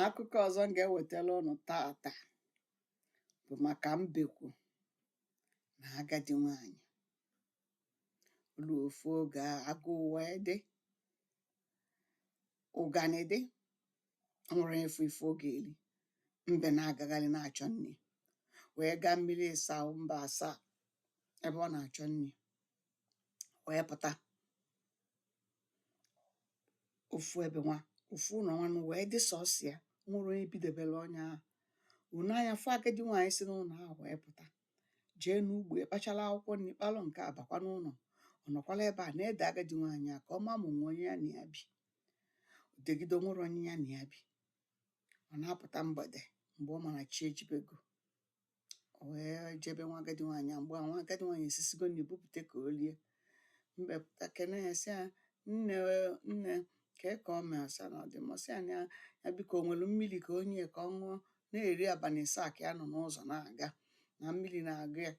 akụkọ ọzọ m ga-ewetara ụnụ taata bụ maka mbekwu na agadi nwanyị o lu ofu oge, agụụ wee dị ụganị dị o nwerọ onye fụ ife ọ ga-eri mbe na-agagharị na-achọ nri wee gaa mmiri ịsaa mba asaa ebe ọ na-achọ nri wee pụta ofu ebe nwa ofu ụlọ nwanụ wee dị sọsọ ya o nwerọ onye bidebere onye ahụ o nee anya fụ agadi nwaanyị si n'ụlọ ahụ wee pụta jee n'ugbo ya kpachara akwụkwọ nri kpalụ nke a bakwa n'ụlọ ọ nọkwala ebe a na-ede agadi nwaanyị a ka ọ ma ma o nwe onye ya na ya bi o degide o nwerọ onye ya na ya bi ọ na-apụta mgbede mgbe ọ ma na chi ejibego O wee jee be nwa agadi nwaanyị a mgbe a nwa agadi nwaanyị esisigo nri bupụta ka o lie. Mbe pụta kene ya sị ya nne o, nne kee ka ọ mee ọ sị na ọ dị mma sị ya na ya ya biko o nwere mmiri ka o nye ya ka ọ ṅụọ na eri abalị ịsaa ka ya nọ n'ụzọ na-aga na mmiri na-agụ ya.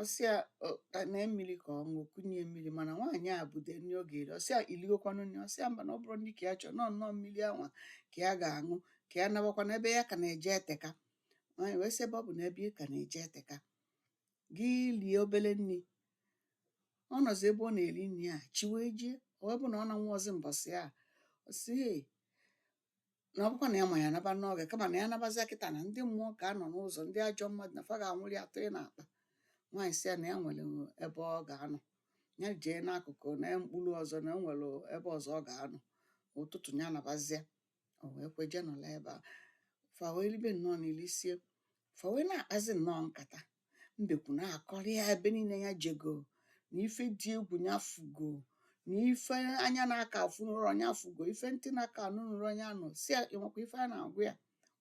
Ọ sị ya "O, ka mee mmiri ka ọ ṅụọ kunye mmiri mana nwaanyị a bude nri ọ ga-eri ọ sị ya iligokwanụ nri ọ sị ya mba na ọ bụrọ nri ka ya chọrọ na ọ nnọọ mmiri anwa ka ya ga-aṅụ ka ya nabakwa na ebe ya ka na-eje eteka nwaanyị wee sị ebe ọ bụ na ebe ị ka na-eje eteka gị lie obele nri ọ nọzi ebe ọ na-eri nri a chi wee jie ọ wee bụ na ọ nanwuọzi mbọsị a ọ sị "Hey, na ọ bụkwa na ya ma ya naba n'oge kama na ya nabazia kịta na ndị mmụọ ga-anọ n'ụzọ ndị ajọ mmadụ na fa ga-anwụlị ya tụọ ya n'akpa nwaanyị sị ya na ya nwere ebe ọ ga-anọ ya jee n'akụkụ na mkpuru ọzọ na o nwere ebe ọzọ ọ ga-anọ ụtụtụ ya nabazia o wee kwe jee nọla ebe a fa wee ribe nnọọ nni lisie fa wee na-akpazi nnọọ nkata mbekwu na-akọrọ ya ebe niile ya jego na ife dị egwu ya fụgo na ife anya na-aka afụnụrọ ya fụgo ife ntị na-aka anụnụrọ ya nụ sị ya ị makwa ife a na-agwa ya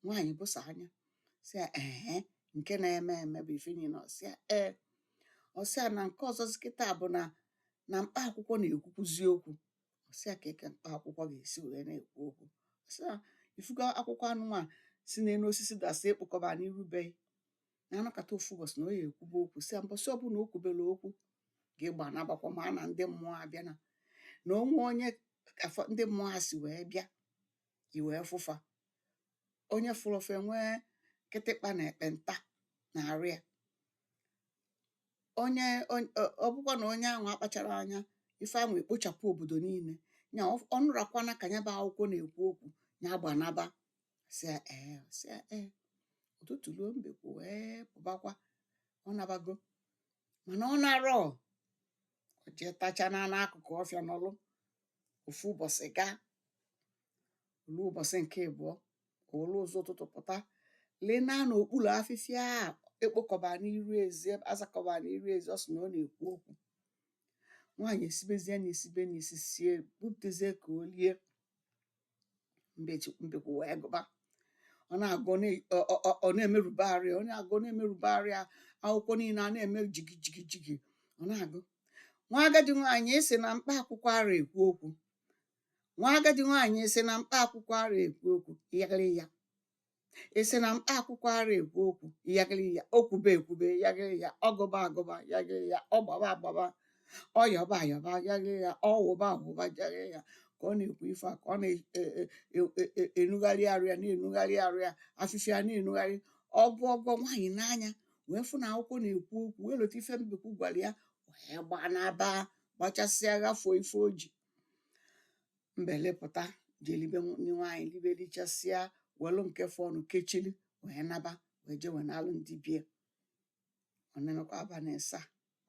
nwaanyị bụsa anya sị ya ehe nke na-eme eme bụ ife niile ọ sị ya ee ọ sị ya na nke ọzọzi kịta bụ na na mkpa akwụkwọ na-ekwukwuzi okwu ọ sị ya kee ka mkpa akwụkwọ ga-esi wee na-ekwu okwu ọ sị ya ị fụgo akwụkwọ anụnwa si n'elu osisi dasị ekpokọba n'iru be gị na a nọkata ofu mbọsị na ọ ya-ekwube okwu sị ya mbọsị ọbụla o kwubere okwu gị gbanabakwa maka na ndị mmụọ abịa na na o nwe onye afụ ndị mmụọ a si wee bịa i wee fụ fa onye fụrụ fa enwee kịtịkpa na ekpenta n'arụ ya onye ọ bụkwa na onye ahụ akpachara anya ife ahụ ekpochapụ obodo niile nya ọ nụrakwana ka nya bụ akwụkwọ na-ekwu okwu nya gbanaba ọ sị ee ọ sị ee ụtụtụ ruo mbekwu wee pụbakwa ọ nabago mana ọ narọ o jee tacha na n'akụkụ ọfịa nọlụ ofu ụbọchị gaa ruo ụbọchị nke ịbụọ o were ụzọ ụtụtụ pụta lịnaa n'okpuru afịfịa a ekpokọba n'iru ezi azakọba n'iru ezi ọ sị na ọ na-ekwu okwu nwaanyị esibezie nni esibe nni sisie butezie ka o lie mbekwu wee gụba ọ na-agụ ọ na-emerube arụ ya ọ na-agụ ọ na-emerube arụ ya akwụkwọ niile a na-eme jigi jigi jigi ọ na-agụ nwa agadi nwaanyị esi na mkpa akwụkwọ ara ekwu okwu nwa agadi nwaanyị esi na mkpa akwụkwọ ara ekwu okwu ya gịrị ya esi na mkpa akwụkwọ ara ekwu okwu ya gịrị ya o kwube ekwube ya gịrị ya ọ gụba agụba ya gịrị ya ọ gbaba agbaba ọ yọba ayọba ya gịrị ya ọ wụba awụba ya gịrị ya ka ọ na-ekwu ife a ka ọ na-enugharị e, e, e, arụ ya na-enugharị arụ ya afịfịa na-enugharị ọ bụ ọgọ nwaanyị nee anya wee fụ na akwụkwọ na-ekwu okwu wee lota ife mbekwu gwara ya wee gbanaba gbachasịa ghafuo ife o ji mbe lịpụta jee libe nni nwaanyị libe lichasịa welụ nke fọnụ kechili wee naba wee jee wenaalụ ndị be ya ọ na-erukwa abalị ịsa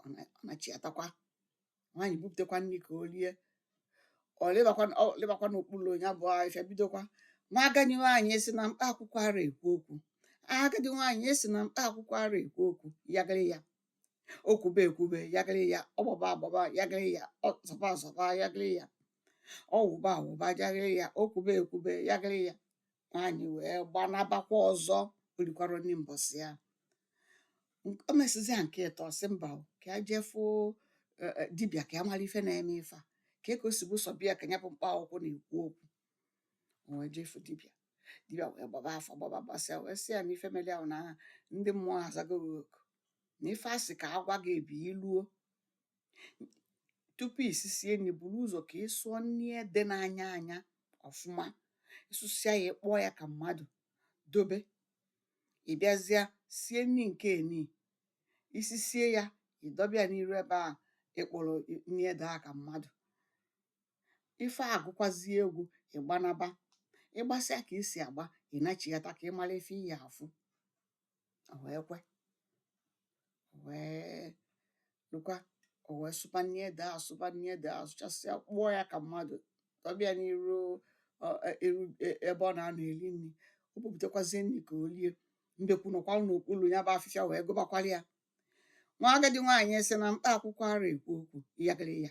ọ na- ọ nachiatakwa nwaanyị bupụtakwa nri ka o lie ọ lịbakwa ọ lịbakwa n'okpuru nya bụ afịfịa bidokwa nwa agadi nwaanyị esi na mkpa akwụkwọ ara ekwu okwu agadi nwaanyị esi na mkpa akwụkwọ ara ekwu okwu ya gịrị ya o kwube ekwube ya gịrị ya ọ gbaba agbaba ya gịrị ya ọ zọba azọba ya gịrị ya ọ wụba awụba ya gịrị ya o kwube ekwube ya gịrị ya nwaanyị wee gbanabakwa ọzọ o rikwara nri mbọsị ya Nk- o mesịzịa nke ịtọ sị mba o, ka ya jee fụ eh, eh, dibịa ka ya mara ife na-eme ife a ka e ka o si bụ sọ be ya ka nya bụ mkpa akwụkwọ na-ekwu okwu o wee jee fụ dibịa dibịa wee gbaba afa gbaba gbasịa wee sị ya na ife mere ahụ na aa ndị mmụọ azago gị oku na ife a sị ka a gwa gị ebe i luo tupu i sisie nri buru ụzọ ka ị sụọ nri ede na-anya anya ọfụma ị sụsịa ya ị kpụọ ya ka mmadụ dobe ị bịazịa sie nri nke eni i sisie ya i dobe ya n'iru ebe ahụ ị kpụrụ nri ede ahụ ka mmadụ ife a gụkwazie egwu ị gbanaba ị gbasịa ka i si agba ị nachighata ka ị mara ife ị ya-afụ o wee kwe o wee lụkwa o wee sụba nni ede a sụba nni ede a sụchasịa kpụọ ya ka mmadụ dọbe ya n'iru ọ, e- eru e- ebe ọ na-anọ eri nri o bupụtakwazie nni ka o lie mbekwu nọkwara n'okpuru ya bụ afịfịa wee gụbakwara ya nwa agadi nwaanyị si na mkpa akwụkwọ ara ekwu okwu ịyagịrịya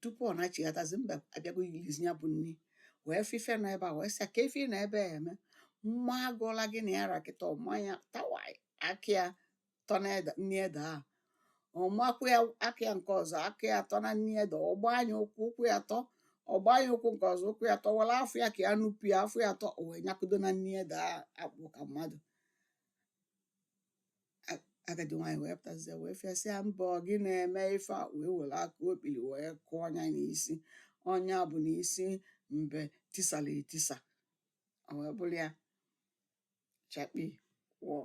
tupu ọ nachighatazi mbe abịago ilizi ya bụ nni wee fụ ife nọ ebe a wee sị ya kee ife ị nọ ebe a eme m maa gị ọla gị na ya ra kịta ọ maa ya tawai aka ya tọ na nni ede a ọ makwaa ya aka ya nke ọzọ aka ya tọ na nni ede ọ gbaa nya ụkwụ ụkwụ ya tọ ọ gbaa nya ụkwụ nke ọzọ ụkwụ ya tọ were afọ ya ka ya nupụ ya afọ ya tọ o wee nyakudo na nni ede a a kpụ ka mmadụ A- agadi nwaanyị wee pụtazie wee fụ ya sị ya mbe ọ gị na-eme ife a wee were aka okpiri wee kụọ nya n'isi ọ nya bụ na isi mbe tisara etisa o wee bụrụ ya chakpii wọọ